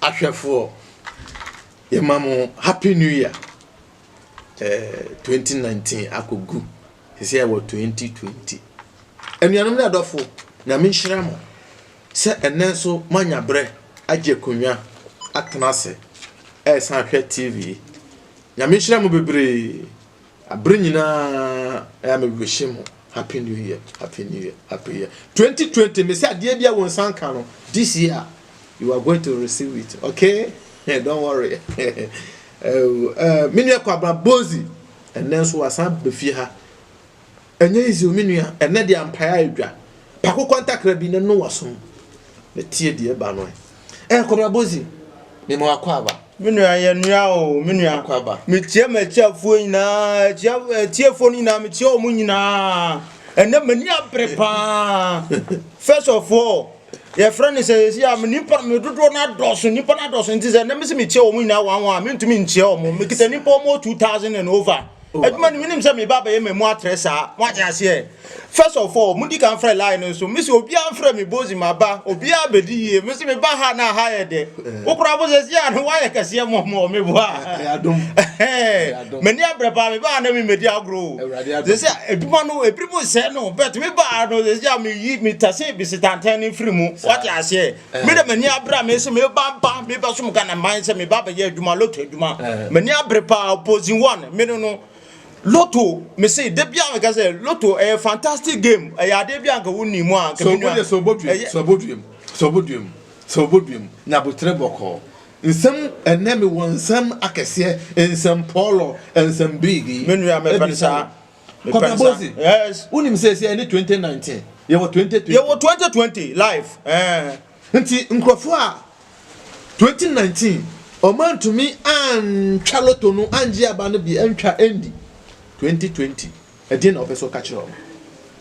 ahwɛfoɔ yɛma mo happy new year eh, 2019 akɔgu ɛsɛ yɛwɔ 2020 anuanom ne adɔfo nyame nhyira mo Sɛ ɛnnɛ nso moanya berɛ agye akonnwa atena ase resan ahwɛ TV yi, Nyame nhyira mo bebree. Bere nyinaa ɛyɛ a me wish mo Happy New Year, Happy New Year, Happy Year 2020. Mese adeɛ biara wo nsa nka no, this year you are going to receive it, okay? Don't worry. Eh, eh, me nua Kwabena Bozi, ɛnnɛ nso wasan bɛfie ha. Ɛnyɛ easy o me nua, ɛnnɛ deɛ ampaeɛ ayɛ dwa. Pako kwanta krabi na Noah som. Ne tie deɛ ɛba no ɛ. Ɛɛ kɔbra bozi, me ma wakɔ aba. Me nua yɛ nua o me nua. Akɔ aba. Me tie m'atiafoɔ nyinaa, atia, atiefoɔ no nyinaa, me tie wɔn nyinaa. Ɛnnɛ m'ani abere paa. First of all. yɛfrɛ no sɛ yɛsi a nipa me dodoɔ no adɔɔso nipa no adɔɔso nti sɛ na mesi mekyia wɔn nyinaa wɔn wɔn a mentumi nkyia wɔn mekita nipa wɔn two thousand and over oh. adwuma no menim sɛ meba abɛyɛ mmamu atrɛ saa moagye aseɛ first of all modi kan frɛ line no so mesi obiara mfrɛ me bozi maba obiara bɛdi yie mesi meba ha na ha yɛ dɛ eh. wokora bo sɛ si a no woayɛ kɛseɛ mɔmɔ meboa M'ani abrɛ paa me baa na mi medi agorɔ o. Sɛ sɛ adwuma no ebiri mu nsɛe no but me baa no sɛ sɛ me yi me tase bisi tantan ne mfiri mu. Wate aseɛ. Eh. Me de m'ani abrɛ a me se me ba ba me ba som Ghana man sɛ me ba bɛyɛ adwuma loto adwuma. Eh. M'ani abrɛ paa opposing one me no no. Loto me se de bia me ka sɛ loto ɛyɛ fantastic game ɛyɛ adeɛ bi anka wo nim a anka me nua. So obodwe so obodwe so obodwe so obodwe nyabotre bɔkɔɔ. Nsɛm ɛnnɛ me wɔ nsɛm akɛseɛ nsɛm pɔɔlɔ nsɛm biigi. Me nua me pɛn saa. Kɔbɛ bozi. Yes. Unim sɛ sɛ ɛne 2019 yɛwɔ 2020. Yɛwɔ 2020 life. Eh. Nti nkurɔfoɔ a 2019 ɔmo antumi antwa loto no angye aba no bi antwa ɛndi 2020. Ɛdeɛn na ɔpɛ sɛ ɔka kyerɛ wɔn?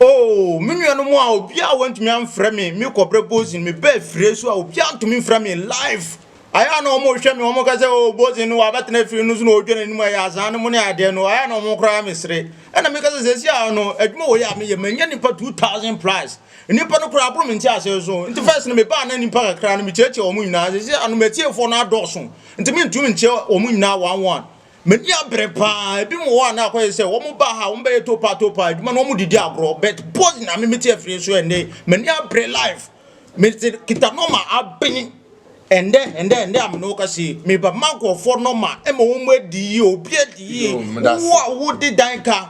Oo, me nuanom a obiara wantumi amfrɛ me, me kɔbrɛ Bozin, me baa afire nso a obiara antumi mfrɛ me, life, ayɛ a na wɔn rehwɛ me, wɔn ka sɛ oo Bozin no wabɛtena afire no so na ɔredwa n'anim ayɛ azaa no mu ne adeɛ no, ayɛ a na wɔn koraa me sere, ɛna meka sɛ sɛsi a no, adwuma wɔ yi a meyɛ, manya nnipa 2000 plus, nnipa no koraa aboro me nteaseɛ so, nti first no me baa na nnipa kakra no me kyeakyea wɔn nyinaa, sɛsi a no m'atiefoɔ no adɔɔso, nti mentumi nkyea wɔn nyinaa one one. M'ani abere paa, ebi mo hɔ a na akɔyɛ sɛ wɔn baa ha wɔn bɛyɛ topa topa adwuma na wɔn didi agorɔ but pause na me mete afiri so ɛnde m'ani abere life mete kita nɔma abene ɛndɛ ɛndɛ ɛndɛ a me ne wo kasa yi meba ma nkurɔfoɔ nɔma ɛma wɔn adi yie obi adi yie wo a wode dan ka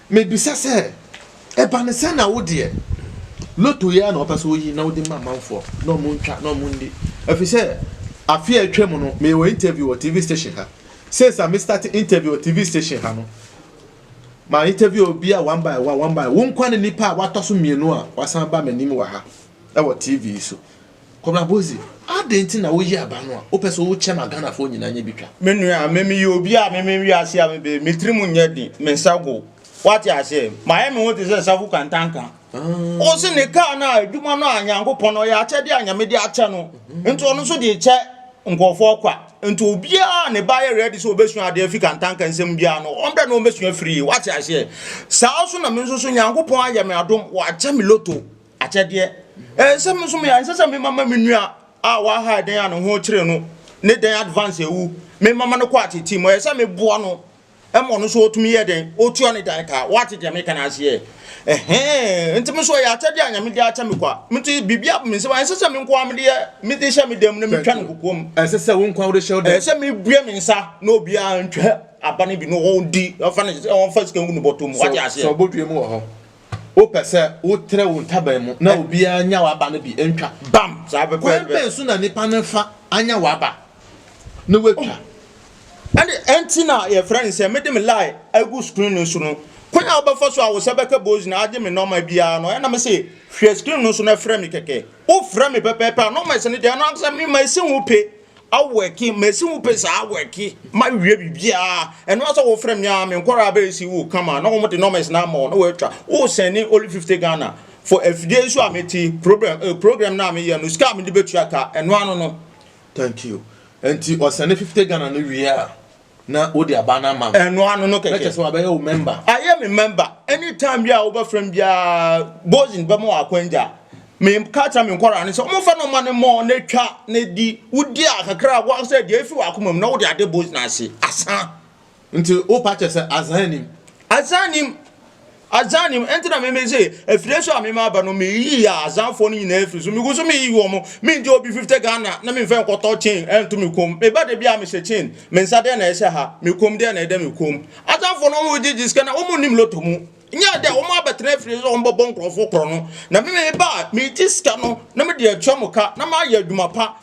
Mebisa sɛ, Ɛba no sɛn na wo deɛ, lotto yi ara na wopɛ sɛ woyi na wode ma amanfoɔ na wɔntwa na wɔnni? Efisɛ afe a atwam no, meyɛ wɔ interview wɔ TV station ha. Since a me starte interview wɔ TV station ha no, ma interview obiara one by one, one by one. Wo nkoa ne nipa a watɔ so mmienu a wasan aba m'anim wɔ ha wɔ TV yi so. Kɔbra Bozi, adɛn nti na woyi aba no a wopɛ sɛ wokyɛ ma Ghanafoɔ nyinaa nyɛ bi twa? Me nua, me meyɛ obi a me me wiase a me bɛ me tirim nyɛ den, me nsa gow. Wate aseɛ? Mayɛ me ho te sɛ Safu Kantanka. Wo se ne kaa no a adwuma no a Nyankopɔn no ɔyɛ akyɛdeɛ a Nyame de akyɛ no nti ɔno nso de kyɛ nkurɔfoɔ kwa. Nti obiara a ne ba yɛ ready sɛ ɔbɛsua adeɛ afiri Kantanka nsam biara no ɔmbrɛ na ɔmmɛsua firie. Wate aseɛ? Saa nso na me nso so Nyankopɔn ayɛ me adom wakyɛ me loto. Akyɛdeɛ. Ɛnsɛ me nso me ɛnsɛ sɛ me mama me nua a wahae dɛn a ne ho kyere no ne dɛn advance awu me mama no kɔ atete mu ɛyɛ sɛ me boa no ɛma ɔno nso ɔtumi yɛ dɛn ɔtua ne dan ka wate deɛ meka no aseɛ ɛhɛn nti me nso ɛyɛ akyɛdeɛ a nyame de akyɛ me kwa nti biribi aba me nsɛm ɛnsɛ sɛ me nkoa mede yɛ mede hyɛ me dam na metwa no kokoam ɛnsɛ sɛ wo nkoa wode hyɛ wo dam ɛsɛ sɛ mebue me nsa na obiara ntwa aba no bi na ɔdi ɔfa ne ɔfa sika ngu ne bɔtɔ mu wate aseɛ sɛ ɔbɔdua mu wɔ hɔ Wopɛ sɛ wotrɛ wo ntaban mu na obiara nya w'aba no bi ntwa? Bam! Kwan bɛn so na nnipa no fa anya w'aba na wɔatwa? Ɛnde ɛnti na yɛfrɛ no sɛ mede me line agu screen no so no. Kwan a wobɛfa so a wo nsa bɛka bozi na agye me nɔma biara no, ɛyɛ na mese hwɛ screen no so na frɛ me kɛkɛ. Wofrɛ me pɛpɛɛpɛ a, nɔma ɛsɛ no deɛ, ɛno ankasa mema ɛsi wo pe. awɔki mesi wo pɛ saa awɔki ma wie biribiara ɛno asɛ wo frɛ me a me nkɔraa bɛyɛ si wo kama na wɔn de numbers na ama wo na wɔatwa wo sɛne only fifty Ghana for afidie nso a meti program eh, program na meyɛ no sika a mede bɛtua ka ɛno ano no thank you nti ɔsɛne fifty Ghana no wie a na wode aba no ama me. ɛno ano no kɛkɛ. kyɛ sɛ wabɛyɛ wo mɛmba. ayɛ me mɛmba anytime bi a wobɛfrɛ m biara bozin bɛma wɔ akwangya meka kyerɛ me nkwaraa no sɛ ɔmomfa no ma no mmɔ na twa na di wodi a kakra woa sɛ deɛ ɛfi wakoma mu na wode ade bozin ase asa nti wopa kyɛ sɛ azan nim azan nim Azan ni mu, enti na meme se afire so a meme aba no meyiyi a Azan foɔ no nyinaa firi so, megu so meyiyi wɔn, mengye obi fifte Ghana na memfa nkɔtɔ chain nto me kɔn mu, meba da biara mehyɛ chain, me nsa dɛn na ɛhyɛ ha, me kɔn mu dɛn na ɛda me kɔn mu. Azan foɔ no wɔn gyegye sika na wɔn nnim lotto mu, nyɛ dɛ wɔn abɛtena afire so sɛ wɔn bɛbɔ nkorɔfoɔ korɔno, na meme meba a megye sika no na mede atua mo ka na mayɛ adwuma pa,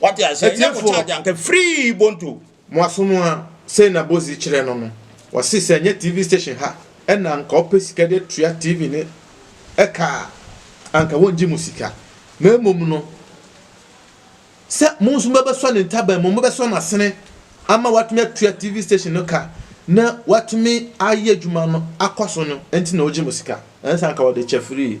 Wate aseɛ? Ɛnyɛ mo charge anka free bonto. Mo asom a sei na Bozi kyerɛ no no wɔse sɛ ɛnyɛ TV station ha ɛna anka ɔpɛ sika de atua TV ne ɛka a anka wɔngye mo sika na mmom no sɛ mo nso mobɛsɔ ne ntaban mu mobɛsɔ no asene ama watumi atua TV station no ka na watumi ayɛ adwuma no akɔ so no nti na ɔgye mo sika ɛnsa anka ɔde kyɛ free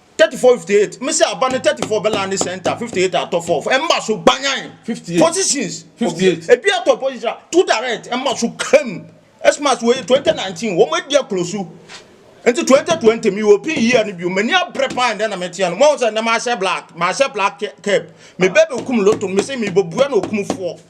thirty four fifty eight mesi aba ne thirty four bɛlan ne center fifty eight atɔ four ɛma so banyan fifty eight positions fifty eight ebi atɔ position two direct ɛma so kam ɛsma so wɔyɛ twenty nineteen wɔn adi akolosu nti twenty twenty mi wɔ pin yie no bi wɔn ani abere paa ɛdɛ na mɛ tia no wɔn sɛ ɛnɛ maa hyɛ black maa hyɛ black cap mɛ bɛɛ bɛ kum loto mɛ sɛ mi bɔ bua na okum foɔ.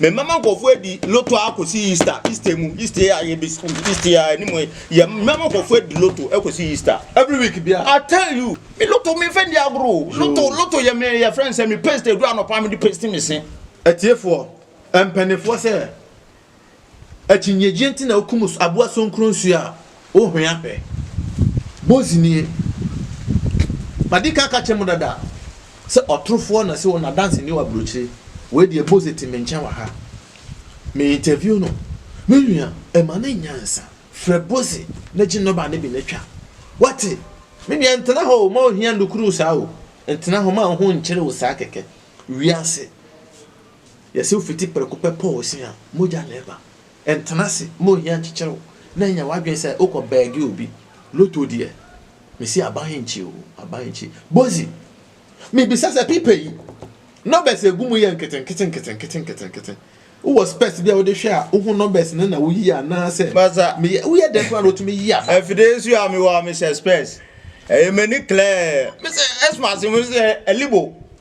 Memmɛma nkurɔfoɔ adi loto ara kɔsi Easter, Easter mu, Easter yi a yɛbɛ school, Easter yi a anim yi, yɛ mmɛma nkurɔfoɔ adi loto kɔsi Easter. Every week bia. I tell you, me loto me nfa ndi agorɔ o. Loto, loto yɛ me yɛfrɛ no sɛ me paste aduru anɔpa a mede paste me se. Atiefoɔ, mpanimfoɔ sɛ, akyinnyegyeɛ nti na wokum aboa sonkronsuo a Ohua pɛ. Bozi nie. Madi kan aka akyerɛ mo dada sɛ ɔtorofoɔ na sɛ ɔno adanseni wɔ aburokyire. Wei deɛ Bozi te me nkyɛn wɔ ha. Me interview no. Me nua, ɛma no nyansa. Frɛ Bozi na gye nɔba no bi na twa. Wate? Me nua, ntena hɔ o, mma ohia nnukuru wo saa o. Ntena hɔ, mma wo ho nnkyere wo saa kɛkɛ. Wiase, yɛse wofiti prɛko pɛ pɔ wo se a, mogya na ɛba. Ntena ase ma ohia nkyekyere wo na nya w'adwene sɛ wokɔ bɛɛge obi. Loto deɛ, mese aban nkye o, aban nkye. Bozi, mebisa sɛ pipa yi, numbers a egu mu yɛ nketenkete nketenkete nketenkete, wowɔ spɛs bi a wode hwɛ a wohu numbers no na woyi anaasɛ Basa, meyɛ, woyɛ dɛn koraa na wotumi yi aba? Afide nso a mewɔ a mehyɛ spɛs, ɛyɛ m'ani klɛɛ. Mese, ɛsoma ase, mese, Alibo,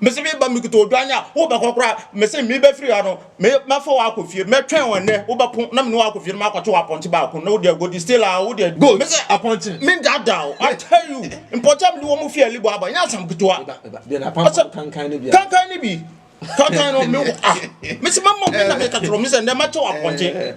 Mese meba mekuta odwan a wobɛkɔ koraa mese mebɛfiri ha no me mɛfa wo akɔ fie mɛtwɛn wo ɛnɛ wobɛpo na mene wo akɔ fie no makɔto apɔnkye baako na wode agodi still a wode go mese apɔnkye mendaadaa wo I tell you mpɔnkye a mede wɔn fi alibɔ aba nyɛ asɛm ketewa Ɔsɛ- kankan ne bia kankan ne bi kankan no me ah mese mama wo na meka kyerɛ wo mese ɛnɛ mɛkyɛ wo apɔnkye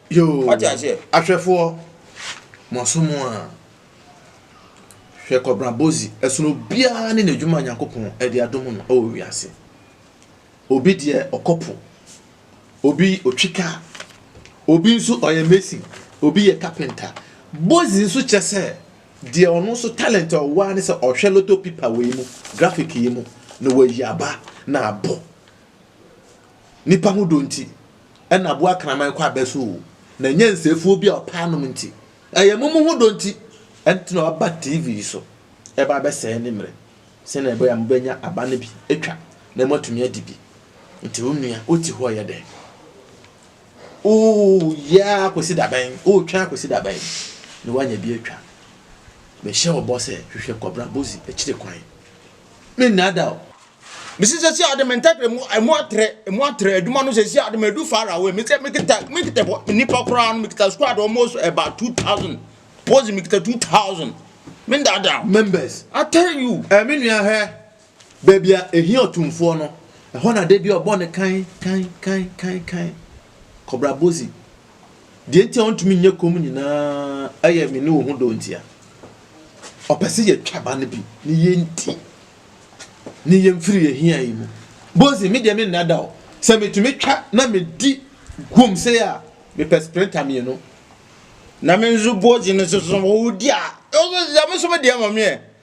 Yoo, Wate aseɛ? ahwɛfoɔ, moaso mo a, hwɛ Kɔbena Bozi, ɛsono obiara ne n'adwuma a Nyankopɔn de adom no wɔ wiase. Obi deɛ, ɔkɔ po, obi ɔtwe kaa, obi nso ɔyɛ mason, obi yɛ carpenter. Bozi nso kyɛ sɛ, deɛ ɔno nso talent a ɔwɔ ara ne sɛ ɔhwɛ lotto pipa wei mu, graphic yi mu, na wayi aba na abɔ. Nnipa ho dɔ nti na aboa kraman kɔ abɛso o, na ɛnyɛ nsɛefoɔ bi a ɔpɛ anom nti. Ɛyɛ mo mo ho dɔ nti ɛnti na ɔba TV yi so ɛba abɛsɛe ne mmerɛ sɛnea ɛbɛyɛ a mobɛnya aba no bi atwa na moatumi adi bi. Nti wo nua wote hɔ yɛ dɛn? Woyɛ ara kɔsi da bɛn? Wotwɛn akɔsi da bɛn na woanya bi atwa? Mehyɛ wo bɔ sɛ hwehwɛ Kɔbra Bozi akyire kwan. Me nnaadaa o. Mesi sɛsi ade me ntadeɛ mu ɛmu atrɛ ɛmu atrɛ adwuma no sɛsi ade me edu far away me sɛ me kita me kita bɔ nipa koraa no me kita squad almost about two thousand pose me kita two thousand me ndada members I tell you. Ɛɛ me nua hwɛ baabi a ehi ɔtumfoɔ no ɛhɔ na de bi ɔbɔ ne kan kan kan kan kan kɔbra bozi. Deɛ nti a ɔntumi nyɛ komm nyinaa yɛ me ne wo ho dɔ nti a. Ɔpɛ sɛ yɛtwa ba no bi ne yɛnti, ne yɛmfiri yɛn hia yi mu. Bozi, me deɛ me nna da o. Sɛ metumi twa na medi guom sei a, mepɛ sprinter mmienu. Na me nso Bozi no nso so, ɔdi a, ɔso sɛ me nso me deɛ ma me ɛ.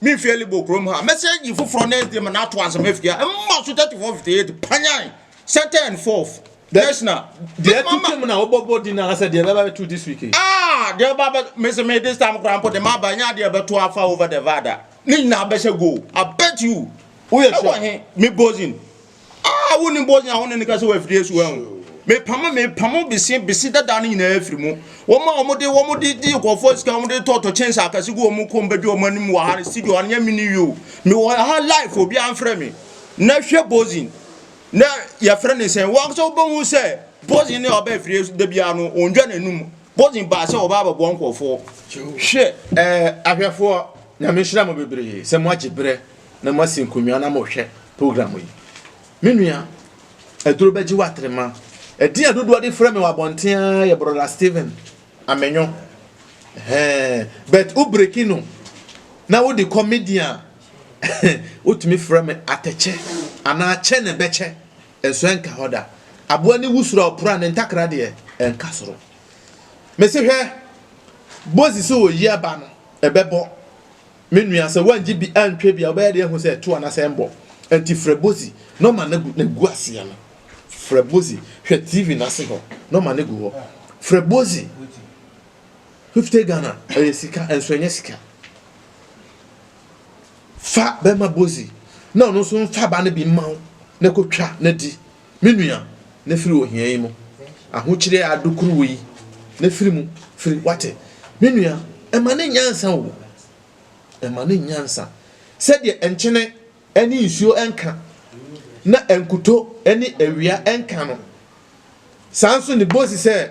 Me fie libo kurom ha. Mɛsɛ yi foforɔ next day ma na ato asɛm afia. Mma so 34 58 panyan second and fourth. National. Deɛ tu twam na wobɔbɔ din anaasɛ deɛ bɛba bɛtu this week. Ah, deɛ bɛba bɛ mese me this time koraa mpo de ma aba nyɛ adeɛ bɛto afa over the vada. Ne nyinaa bɛhyɛ goal. I bet you. Woyɛ sure. Ɛwɔ he me bozin. a woni bɔ nyina woni ne kasa wɔ afidie so ɛho mepamo mepamo bese bese dada no nyinaa afiri mu wɔn a wɔn de wɔn de di nkɔfoɔ sika wɔn de tɔɔtɔ kyɛnse akɛse gu wɔn kɔn bɛdi wɔn anim wɔ ha studio anyɛ mi ni yio mi wɔ ha life obi anfrɛ mi na hwɛ bozin na yɛfrɛ ne sɛn wɔn sɛ wɔbɛhu sɛ bozin ne ɔbɛ afiri so da biara no wɔn dwa n'anum bozin baa sɛ ɔbaa bɛboa nkɔfoɔ hwɛ ɛɛ ahwɛfoɔ nyame nhyira mo bebree sɛ mo agye berɛ na moasi nkonnwa na morehwɛ program yi. Me nua, aduro bɛgye wo atrema. Ɛdin a dodoɔ de frɛ me wɔ abɔnten ara yɛ Brɔda Steven Amenyo. Hɛn, but wo breki no na wode kɔ media a, wotumi frɛ me atɛkyɛ anaa kyɛ ne bɛkyɛ, nso ɛnka hɔ da. Aboa ne wusuro a ɔpra ne ntakra deɛ, ɛnka soro. Mese hwɛ, bozi sɛ oyi aba no, ɛbɛbɔ. Me nua, sɛ woangye bi antwa bi a, wobɛyɛ dɛn ahu sɛ ɛto anaasɛ ɛmmɔ? Enti frɛ Bozi na ɔma no agu n'agu aseɛ no. Frɛ Bozi. Hwɛ TV no ase hɔ na ɔma no agu hɔ. Frɛ Bozi. Fifty Ghana, ɛyɛ sika, nso ɛnyɛ sika. Fa bɛma Bozi na ɔno nso mfa aba no bi mma wo na kɔtwa na di. Me nua, na firi ohia yi mu, ahokyere a ado koro wo yi, na firi mu, firi, woate? Me nua, ɛma no nyansa o, ɛma no nyansa, sɛdeɛ nkyene ne nsuo nka, na nkuto ne awia nka no, saa nso ne bosi sɛ,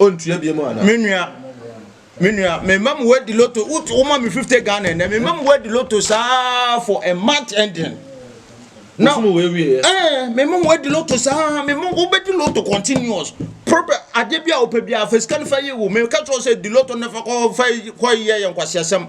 Ɔntua biem anaa? Me nua, me nua, me mma mo wadi loto, wo ma me fifty Ghana ɛnɛ, me mma mo wadi loto saa for a month ending. Na mo wɔ ewie yɛ. Ɛɛ, me mma mo wadi loto saa, me mma wo bɛdi loto continuous. Problem adeɛ bi a wopɛ bi a, fɛ sika no fa yi wo, me ka kyerɛ sɛ di loto na fa kɔ fa kɔ yɛ yɛ nkwasiasɛm.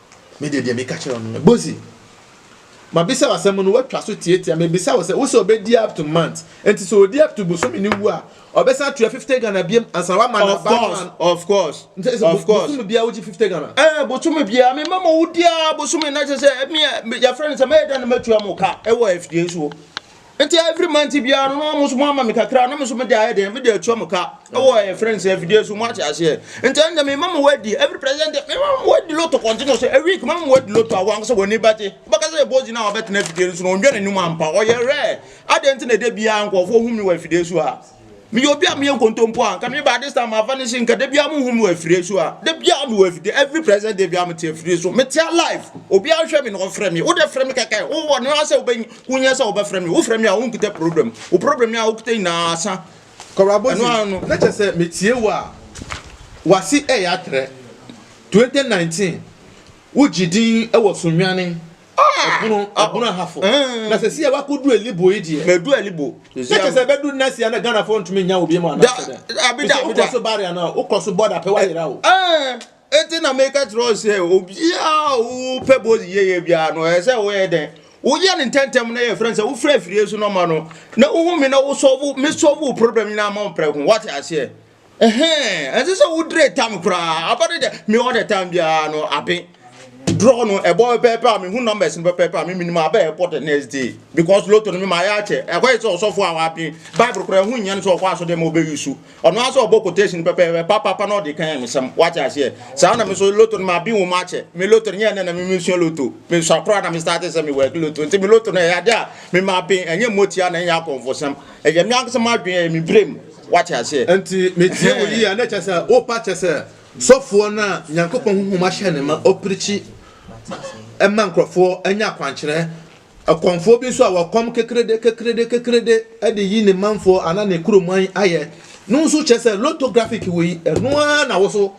Me deɛ deɛ meka kyerɛ wo no, Bozi, mabisa wo asɛm no, woatwa so tiatia. Mebisa wo sɛ, wo sɛ ɔbɛdi up to month, nti sɛ ɔdi up to bosome no wu a, ɔbɛsan atua 50 Ghana biam ansa wama no aba no an? Of course, nti sɛ of course. bosome biara wogye 50 Ghana? Eh, bosome biara, me mama wo di a bosome na kyɛ sɛ, me a, yɛfrɛ no sɛ mɛyɛ dɛn na matua mo ka ɛwɔ afidie so. Enti every month biara no na wɔn nso wɔama me kakra na me nso mede ayɛ dɛn mede atua mo ka ɛwɔ ɛyɛ friends sɛ afidie so mo ate aseɛ nti ɛnna me ma mo wadi every president me ma mo wadi loto kɔntene sɛ a week ma mo wadi loto ahoa nko sɛ wɔn ani bɛgye bɛka sɛ ɛbɔzi na wɔbɛtena afidie no so na wɔn dwa n'anim ampa ɔyɛ rare adɛn nti na ɛdɛ biara nkurɔfoɔ hu me wɔ afidie so ha meyɛ obi a meyɛ nkontompo a nka me ba this time afa ne se nka da biara muhu me wɔ afire so a da biara me wɔ afide every present day biara mete afire so mete alive obi ahwɛ me na ɔfrɛ me wode frɛ me kɛkɛ wowɔ ne asɛ wobɛnya wonya sɛ wobɛfrɛ me wofrɛ me a wonkita problem wo problem a wokita nyinaa asa kɔrɔabɔsi na kyɛ sɛ metie wo a wase ɛyɛ atrɛ 2019 wogye din wɔ so nwane ɛbono ah! ɛbono ah! ahafo eh. na sɛ si a wakodu elibo yi deɛ mɛdu elibo kyɛ sɛ bɛdu nɛsi ana ghana fo ntumi nya obi mu anasɛ dɛ abida abida wokɔ so bari ana wokɔ so bɔda pɛ wayera o eh, eti na meka kyerɛ wo sɛ obiaa wopɛ bɔ yiyeyɛ biaa no ɛyɛ sɛ woyɛ dɛn woyɛ no ntɛntɛm na yɛfrɛ sɛ wofrɛ afirie so nɔma no na wohu me na wosɔvo mesɔvo problem nyinaa ma wo prɛko wate aseɛ Ɛhɛn, ɛnsɛ sɛ wodre tam koraa. Aba no deɛ, me all the time biara no, abe draw no ɛbɔ pɛpɛɛpɛ a mehu numbers no pɛpɛɛpɛ a me menim aba ɛbɔ the next day because loto no me ma ayɛ akyɛ ɛkɔyɛ sɛ ɔsɔfo a waben bible koraa ɛho nyɛ no sɛ ɔkɔ asɔdeɛ ma ɔbɛyi so ɔno ara sɛ ɔbɔ quotation pɛpɛɛpɛ papapa na ɔde kan mesɛm wate aseɛ saa na me so loto no ma aben wɔ mu akyɛ me loto no nyɛ ɛnɛ na me mesua loto me sua koraa na me starte sɛ me work loto nti me loto no ɛyɛ adeɛ a me ma aben ɛnyɛ mmɔtia na ɛnyɛ akɔmfosɛm Ɛyɛ me ankasa m'adwene, ɛyɛ me berɛ mu. Woate aseɛ? Enti metie wo yie a, na ɛkyerɛ sɛ worepa kyɛ sɛ sɔfoɔ no a Nyankopɔn honhom ahyɛ no ma ɔpirikyi ma nkurɔfoɔ nya akwankyerɛ, ɔkɔmfoɔ bi nso a ɔkɔm kekrede kekrede kekrede de yi ne manfoɔ anaa ne kuroman ayɛ no nso kyerɛ sɛ lotographic wei, ɛno ara na wo nso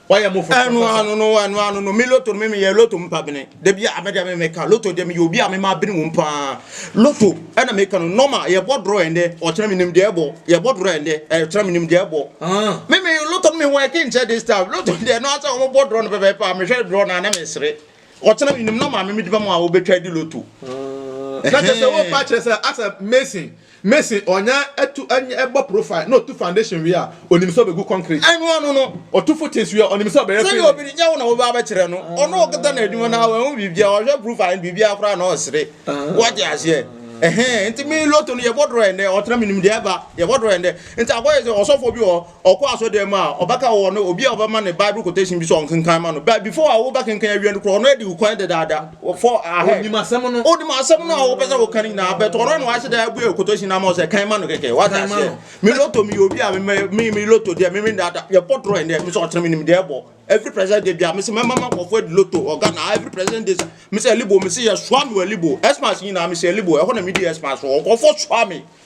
Wayɛ mo foforo. Ɛno ano no, ɛno ano no, me loto no me meyɛ loto mpa bene. Da bi a mede me meka loto deɛ meyɛ obi a mema bene wɔm paa. Loto ɛna meka no nɔma yɛbɔ dorɔ ɛndɛ ɔkyena menim deɛ ɛbɔ yɛbɔ dorɔ ɛndɛ ɛkyena menim deɛ ɛbɔ. Ah. Me me loto no me wɔ ɛke nkyɛ this time loto deɛ no asɛ wɔn bɔ dorɔ no pɛpɛɛpɛ a mehwɛ dorɔ no a na mesere. Ɔkyena menim nɔma me mede bɛma a wɔbɛtwa di loto. Ah. Na kyerɛ sɛ wɔpa kyerɛ sɛ asɛ mason. Mason ɔnya tu nyɛ bɔ profile na ɔtu foundation wie a, ɔnim sɛ ɔbɛgu concrete. Ɛno ano no, ɔtu footings wie a, ɔnim sɛ ɔbɛyɛ filling. Sɛdeɛ obi nyɛ wo na woba abɛkyerɛ no, ɔno ɔkata n'adwuma no ara wanhu biribiara, ɔhwɛ profile no biribiara koraa na ɔresere. Woate aseɛ? Ɛhɛn, nti me Lotto no yɛbɔ draw ɛnnɛ, ɔtra menim deɛ ɛba, yɛbɔ draw ɛnnɛ. Nti akɔyɛ sɛ ɔsɔfoɔ bi wɔ hɔ, Ɔkɔ asɔrdan mu a, ɔbɛka wɔ no obi a ɔbɛma no Bible quotation bi sɛ ɔnkenkan ma no. But before a wobɛkenkan awie no koraa, ɔno adi wo kwan dedaada. For ahead. Onim asɛm no. Onim asɛm no a wopɛ sɛ woka no nyinaa, but ɔno na wahyɛ da abue quotation no ama wo sɛ kan ma no kɛkɛ. Wate aseɛ? Me loto meyɛ obi a me me loto deɛ me me dada. Yɛbɔ draw ɛnɛ, me sɛ ɔkyerɛ me nim deɛ ɛbɔ. Every present day bia me sɛ mɛma ma nkɔfoɔ adi loto ɔga na every present day me sɛ libo me sɛ yɛsoa me wɔ libo. Xmas nyinaa me sɛ libo. Ɛhɔ na me di Xmas wɔ nkɔfoɔ soa me.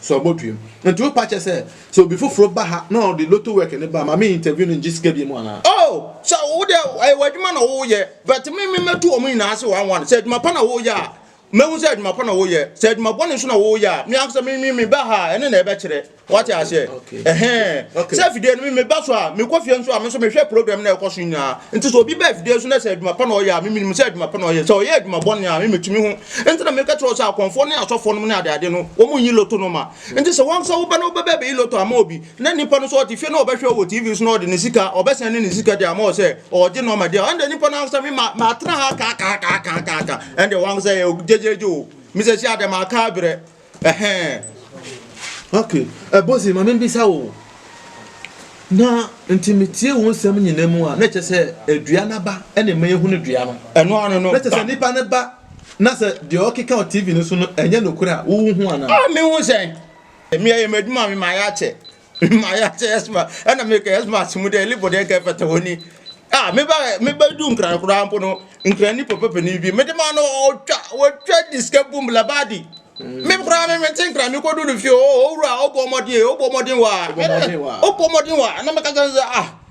So ɔbɔtuam? Nti wo pakyɛ sɛ sɛ obi foforo ba ha na ɔde lotto work no ba a ma me interview no ngye sika biom anaa? Oh sɛ wo deɛ ɛyɛ w'adwuma na wo yɛ but me me mɛtu wɔn nyinaa ase one one sɛ adwuma pa na wo yɛ a mɛhu sɛ adwuma pa na wo yɛ sɛ adwuma bɔne nso na wo yɛ a me ankasa me me me ba ha ɛne na ɛbɛkyerɛ wate aseɛ ɛhɛn sɛ afidie no me me ba so a me kɔ fie nso a me nso mehwɛ program na ɛkɔ so nyinaa nti sɛ obi ba afidie so na sɛ adwuma pa na ɔyɛ a me menim sɛ adwuma pa na ɔyɛ sɛ ɔyɛ adwuma bɔne a me metumi ho Enti na meka kyerɛ wo sɛ akɔmfoɔ ne asɔfoɔ nom ne adeade no, wɔn nyi loto no ma. Enti sɛ wɔn nso woba na wobɛba abɛyi loto ama obi, na nipa no nso ɔte fie na ɔbɛhwɛ wo wɔ TV so na ɔde ne sika, ɔbɛsan ne ne sika de ama wo sɛ ɔregye nɔɔma di a, ɛnde nipa no ankasa me ma, matena ha kaakaakaakaakaaka, ɛnde wɔn ankasa yɛ gyegyeegye o, me sɛ si adɛ, maka abrɛ. Ɛhɛɛ ok Bosie ma membisa wo na nti metie wo nsɛm nyina mu a na kyɛ sɛ adua no aba na ɛma yɛhunu dua no ɛno ano no na kyɛ sɛ nipa no ba na sɛ deɛ ɔkeka wɔ TV no so no ɛnyɛ nokorɛ a wohu ho anaa? Ah mehu sɛn? Ɛmi ɛyɛ m'adwuma me mayɛ akyɛ maya sɛ ɛsma ɛna meka ɛsma ase mu dɛ ɛlebɔ dɛ nka ɛfata hɔ ni a meba meba du nkran koraa mpo no nkran ni papa panin bi mede ma no ɔtwa wɔtwa di sika bum labadi me koraa me mente nkran me kɔdu no fie ɔwura ɔbɔ mmɔden ɔbɔ mmɔden wa ɔbɔ mmɔden wa na meka kyɛ sɛ ah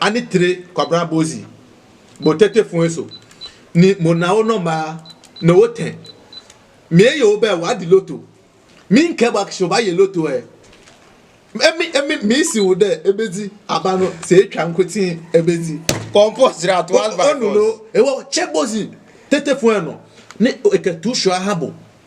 ani tire Kwabra Bozi, mo tete fun eso ni mo nao no maa no wo tɛn. Mie yo bɛ wa di loto, mi nkɛ bua kshi oba ye loto ɛ. Emi emi mi si wo dɛ ebe di aba no se etwa nkotin ebe di. Compost ra to as by force. Onu no ewa ɔkyɛ Bozi tete fun ɛ no ne ekɛ tu shua ha bo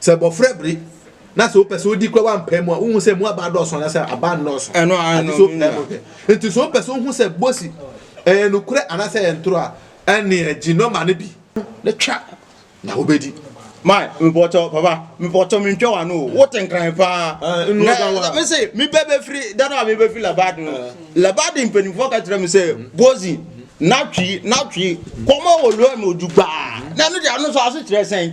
Sɛ abɔfra bere na sɛ wopɛ sɛ wodi kora wampae mu a, wohu sɛ mu aba dɔɔso anaasɛ aba nnɔɔso. Ɛno ara no, so pae mu hwɛ. Nti sɛ wopɛ sɛ wohu sɛ bosi ɛyɛ nokorɛ anaasɛ ɛyɛ ntoro a, ɛneɛ gye nɔma no bi na twa na wobɛdi. Mae, mepɔtɔ, papa, mepɔtɔ mentwa w'ano o, wote nkran paa. Na mese, mebɛ bɛfiri, da no a mebɛfiri Labadi no, Labadi mpanimfoɔ ka kyerɛ me sɛ, bosi, natwi, natwi, kɔma wɔ lɔɛ ma odwu gbaa. Na ɛno deɛ, ɛno nso asekyerɛ sɛn?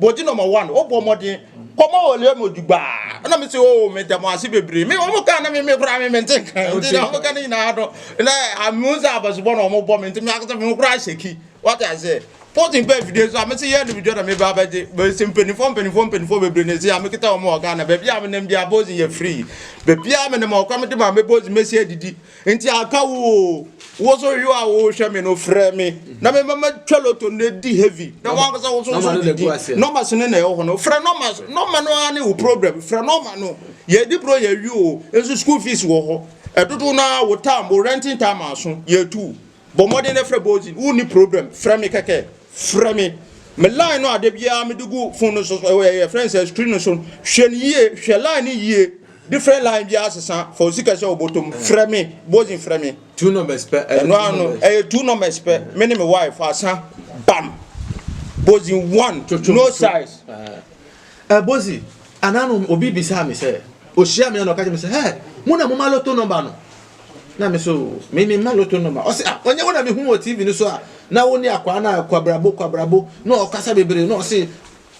Bɔdi nɔma one o bɔ mɔden kɔma o lɛ mo dugbaa ɛna mi si o mi dɛm ase bebree mi wɔn ka na mi mi kura mi mi nti nkan nti na wɔn ka ne nyinaa no na amu nsa abasubɔ na wɔn bɔ mi nti mi akasa mi kura aseki wɔte ase pɔtin pɛ video nso a mi si yɛ ne video na mi ba abɛgye bɛ si mpanyinfoɔ mpanyinfoɔ mpanyinfoɔ bebree na esi a mi kita wɔn wɔ Ghana baabi a mi nam bi a bɔzi yɛ free baabi a mi nam ɔkwa mi de ma mi bɔzi mi si adidi. Nti aka wo o, wo so hwɛ a wohwɛ me no frɛ me na me mama twa loto na di heavy na wankasa wo so so didi nɔma so ne na ɛwɔ hɔ no frɛ nɔma so nɔma no ara ne wo problem frɛ nɔma no yɛdi bro yɛwi o nso school fees wɔ hɔ ɛdodo no ara wo tam wo renting tam aso yɛtu bɔ mmɔden na frɛ bozin wo ni problem frɛ me kɛkɛ frɛ me me line no ade biara me de gu phone no so ɛyɛ friends screen no so hwɛ no yie hwɛ line no yie Different line biara sesa fa osi kɛhyɛ wo bɔtɔ mu frɛ me bozin frɛ me. two numbers pɛ ɛyɛ ɛno ano ɛyɛ two numbers pɛ me ne me wife asa bam bozin one no size. ɛ bozi anano obi bisaa me sɛ ohyia me na ɔka kyerɛ me sɛ hɛ mo na mo ma loto number no na me so me me ma loto number ɔsɛ ah ɔnyɛ wo na me hu wɔ tv no so a na wo ne akwaa na kwabrabo kwabrabo na ɔkasa bebree na ɔse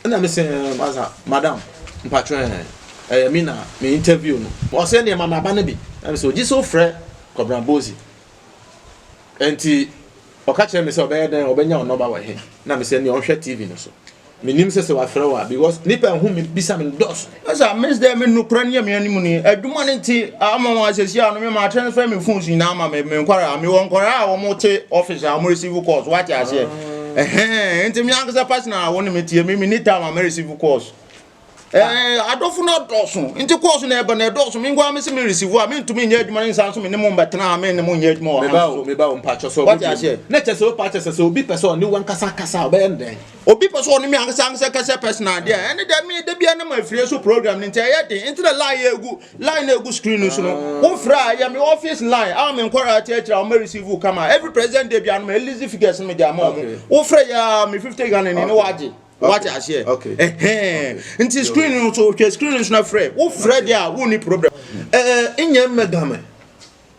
Ɛna me se ɛɛm ansa madam mpakyɛw ɛɛ ɛyɛ me na me interview no ɔse ɛneɛ ma me aba no bi ɛna me se ogye sɛ wofrɛ Kɔbena Bozi ɛnti ɔka kyerɛ me sɛ ɔbɛyɛ dɛn ɔbɛnya wo nɔba wɔ he ɛna me se ɛneɛ ɔnhwɛ TV no so menim sɛ sɛ wafrɛ wo a because nipa ɛho me bisa me no dɔɔso. Asa miss dɛ me nukura ne yɛ anim ni adwuma ne nti ama wɔn asɛsi ano me ma transfer me phones nyinaa ama me me nkwaraa a mewɔ nkwaraa a wɔn te office a wɔn receive calls wate aseɛ ɛhɛn nti me ankasa personal wɔn ne me tie me me ni time a me receive calls ɛɛ adɔfo no dɔɔso nti calls na ɛba na ɛdɔɔso me nkwaraa me se me receive a me ntumi nyɛ adwuma ne nsa nso me ne mo mbɛtena a me ne mo nyɛ adwuma wɔ ha nso wate aseɛ na kyɛ sɛ o pa kyɛ sɛ sɛ obi pɛ sɛ ɔne wɔn kasa kasa ɔbɛyɛ ndɛn Obi pɛ sɛ ɔne me ankasa ankasa kasa personal deɛ ɛne deɛ me da bia nam afiri so program no nti ɛyɛ den nti na line yɛ egu line na egu screen no so no wofra a ɛyɛ me office line a me nkɔra ati akyira wɔn receive wo kama every president day bia no me list figures no me de ama wɔn wofra yɛ me fifty Ghana ni ne wagye wate aseɛ ɛhɛn nti screen no so hwɛ screen no so na frɛ wofra deɛ a wonni problem ɛɛ nyɛ mmɛdame.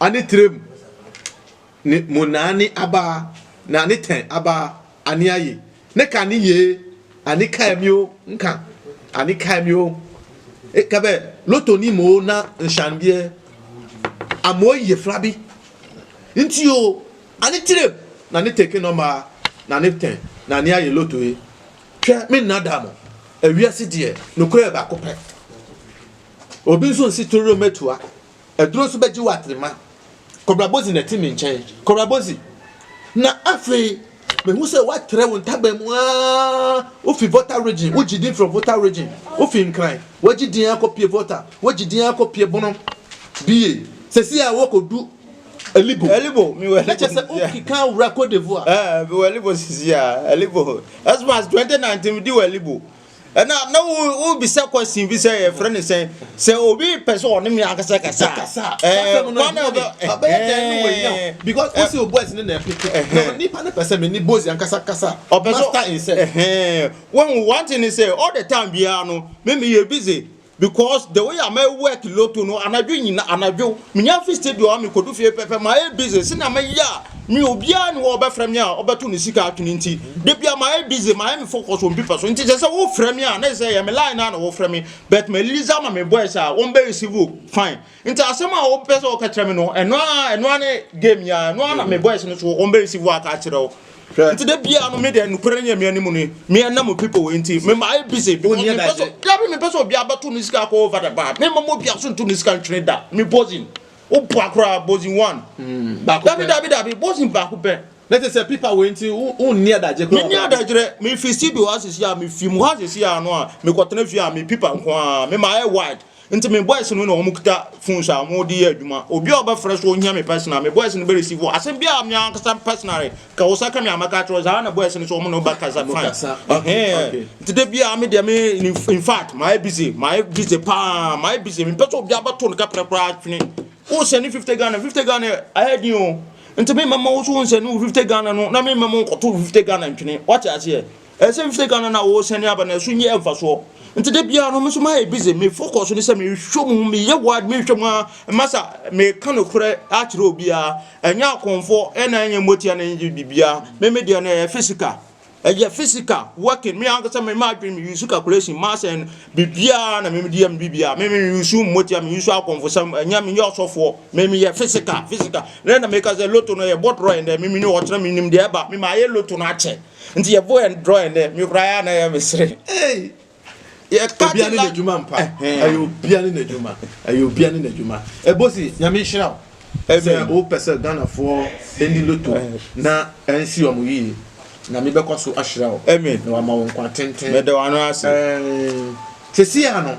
Ane tire mu ne mo naane abaa, na ane tɛn abaa, ane aye, ne ka ne yee, ane kae me o, nka, ane kae me o, e ka bɛ loto ni mo o na nhyɛndeɛ a mo ye fra bi nti o, ane tire mu na ne teke nɔmaa, na ane tɛn na ane aye loto e, hwɛ me nna da mo, awiase deɛ nokorɛ baako pɛ, obi nso nsi tororo mɛtua. Aduro nso bɛgye wo atrema. Kɔbra Bozi na ɛte me nkyɛn. Kɔbra Bozi, Na afei mehu sɛ woatrɛ wo ntaban mu aa, wofi Volta region, wogye din from Volta region, wofi Nkran, woagye din ara kɔpue Volta, woagye din ara kɔpue Bono, BA, sɛsi a woakɔdu Alibo. Alibo, mewɔ Alibo. Na kyɛ sɛ wokeka wura Cote d'Ivoire. Ɛɛ, mewɔ Alibo sɛsi a, Alibo. As much as 2019 medi wɔ Alibo. Ɛna na wobisa question bi sɛ yɛfrɛ no sɛ sɛ obi pɛ sɛ ɔne me ankasa kasa kwan a ɔbɛyɛ dɛn ne wɔnya because wosi o boys ne na ɛpeke nipa ne pɛ sɛ me ne boys ankasa kasa ɔpɛ sɛ master in sex wɔn one thing ne sɛ all the time biara no me me yɛ busy because the way a ma work lotto no anadwo nyina anadwo menya fi stadium a mekodu fie pɛpɛ ma yɛ busy se na meyɛ a me obiara ne hɔ ɔbɛfrɛ me a ɔbɛto ne sika atwene nti da bia ma yɛ busy ma yɛ me focus on people so nti sɛ sɛ wofrɛ me a na sɛ yɛ me line na na wofrɛ me but ma Lisa ma me boys a wɔn bɛ receive fine Nti asɛm a wopɛ sɛ wɔka kyerɛ me no ɛno a ɛno a ne game yi a ɛno a na me boys no so wɔn bɛ receive aka akyerɛ wo nti de bia no me deɛ nokorɛ no yɛ me anim ni me ɛna mo people wɔ nti me ma ayɛ busy because me pɛ so dabi me pɛ so obi abɛto ne sika akɔ over the bar me ma mo obi aso nto ne sika ntwene da me bozin o bɔ akora bozin one hmm, dabi dabi dabi bozin baako pɛ ne te sɛ pipa wei nti wonni adagye koraa menni adagyerɛ mefi studio asisi a mefi mu ha asisi a no a mekɔtena fie a me pipa nko a mema ɛyɛ wide Nti me boys no na wɔn kuta phones a wɔn de yɛ adwuma. Obi a ɔbɛfrɛ so ohia me personal, me boys no bɛ receive wo. Asɛm bi a me ankasa personally ka wo sɛ ka me a mɛka akyerɛ wo saa na boys no so wɔn na ɔbɛ kasa fine. Ɛhɛn. Nti da bi a me deɛ me in fact mayɛ busy mayɛ busy paa mayɛ busy me mpɛ sɛ obi abɛto ne kɛprɛ koraa atwene. Wo sɛ ne fifty Ghana fifty Ghana ayɛ den o. Nti me mɛma wo so wo nsɛ ne wo fifty Ghana no na me mɛma wo kɔto wo fifty Ghana ntwene. Wate aseɛ? Ɛsɛ me sɛ Ghana na wɔresane aba na ɛso nyɛ mfasoɔ. Nti da biara no me nso mayɛ busy me focus ne sɛ mehwɛ mu meyɛ word mehwɛ mu a masa meka nokorɛ akyerɛ obiara ɛnyɛ akɔmfoɔ ɛna ɛnyɛ mmotia na ɛnyɛ biribiara me me deɛ no ɛyɛ physical ɛyɛ physical working me ankasa me ma adwene me use calculation mass and biribiara na me me deɛ me biribiara me me use mmotia me use akɔmfosɛm ɛnyɛ me yɛ ɔsɔfoɔ me me yɛ physical physical na ɛna meka sɛ loto no ɛyɛ bɔtorɔ ɛndɛ me me ne ɔkyerɛ me nim deɛ ɛba me ma ayɛ loto no akyɛ Nti yɛbɔ yɛn drawing dɛ me koraa yɛ na yɛ me sere. Hey! Yɛ ka Obia ne n'adwuma mpa. Ɛyɛ obia ne n'adwuma. Ɛyɛ obia ne n'adwuma. Ɛbosi, Nyame nhyira wo. Sɛ wopɛ sɛ Ghanafoɔ ɛni loto na ɛnsi wɔn yie, Nyame bɛkɔ so ahyira wo. Amen. Na wama wo nkwa tenten. Meda w'ano ase. Ɛɛn, sɛsi a no.